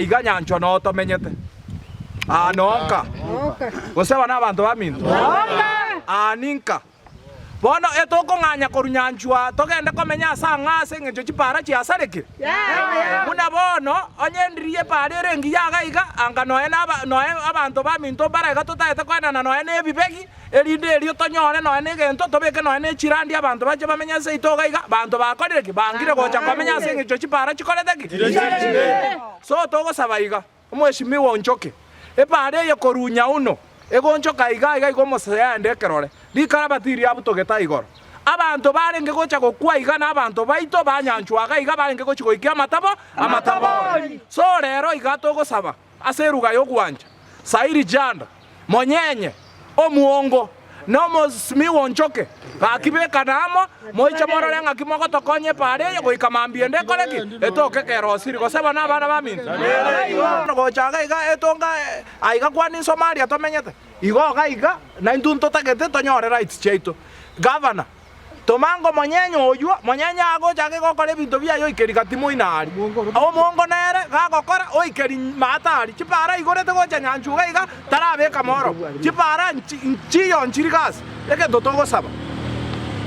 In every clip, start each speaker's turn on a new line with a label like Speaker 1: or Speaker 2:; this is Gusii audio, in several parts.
Speaker 1: Iga nyanchwa noo tomenyete aa noo nka? Gose aba nabanto baminto? Aa ninka? Bono etokong'anya korwa nyanchwa togende komenya ase ang'aa ase engencho chipaara chiasarekire? Buna bono, onye endiri y'epaara ere engiya iga iga, anga noe abanto baminto mbare iga totaete koenana noe nebibegi, erinde erio tonyore nonya negento tobeke nonya ne chirandi abanto bache bamenye ase ito iga iga, abanto bakorire ki? Bangire gocha komenya ase engechio chipaara chikorete ki? So togosaba iga, Omweshimiwa onchoke epaara eye korwa Nyauno egonchoka iga iga iga omosese yaende ekerore, rikarabati iri abwo togetae igoro. Abanto barenge gocha gokwa iga nabanto baito banyanchwa iga iga barenge gochi goikia amatabo amatabori. So rero iga togosaba. Ase eruga y'ogwancha, Sairi Janda, Monyenye, Omuongo, na Omosmi w'Onchoke, gaki bekane amo, moiche morore ng'aki mogotokonya epaara eye goika mambia ende ekore ki? Etoke ekero osiri goseba nabana baminto. Gocha iga iga etonga aiga kwani Somalia tomenyete. Igo iga iga naintwe ntotagete tonyore rights chiaito. Governor. Toma ngomonyenye oyio, monyenye agocha ake gokora ebinto biaye oikeri gati moina aria. Omongo nere gagokora, oikeri maata aria. Chipaara aigorete gocha nyanchwa iga iga, tarabeka mooroba. Chipaara nchiyo nchiri gasi. Egento togosaba,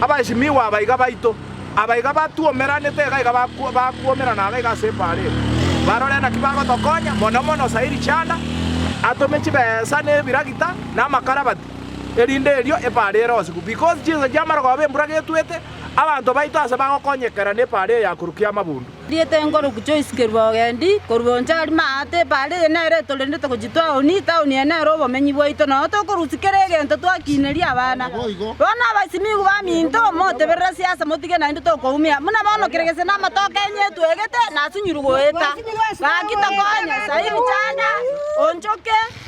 Speaker 1: abaesimigwa abaiga baito, abaiga batwomeranete iga iga bakwomerana iga iga ase epaara eye, barore naki bagotokonya, mono mono Sairi Chanda atome chibesa na ebiragita na amakarabati. Erinde erio epaara ere onsi bu, because chinsa chiamara koba embura getwete, abanto baito ase bagokonyekera nepaara eye ya korukia amabundu. Rieta enkoroku choisikerwa ogendi korwa oncha aria maate, epaara eye nere etorendete gochia taoni, etaoni eye nere obomenyi bwaito, noyo tokorusia kera egento twakiineria abana. Bono abasimigwa baminto, moteberere siasa motige naende tokoumia, buna bono kera gese namato Kenya etwegete, nasunyirwe goeta. Gaki tokonye, sairi chanda, onchoke.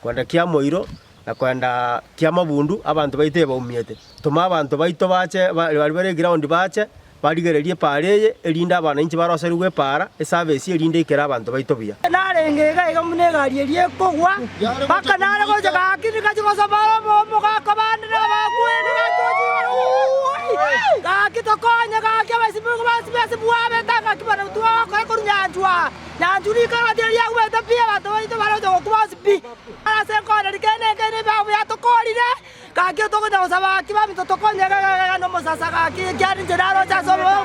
Speaker 1: Kwenda kia moiro na kwenda kia mabundu abanto baito ebaumiete. Toma abanto baito bache baria bare egraondi bache barigererie epaara eye, erinde abanainchi baroserigwe epaara esabesi erinde aikere abanto baito buya. Narenge iga iga buna egari eria ekogwa, mpaka nare gocha gaki nigachi gosabara obomo gakwa bande nabakweri gatocha igoro gaki tokonye gaki abasibigwa basibe ase bwabete gaki barabwo twagokoe korwa nyanchwa. Naintwe riko riaito tiriaumete pi, abanto baito bare gocha gokwa bonsi pi. Ase ense enkong'u eri kende nekeene ebiabu biatokoorire, gaki togocha gosaba gaki, baminto tokonyegegege nomosasa gaki, ekiara inche naro inche ase obobe.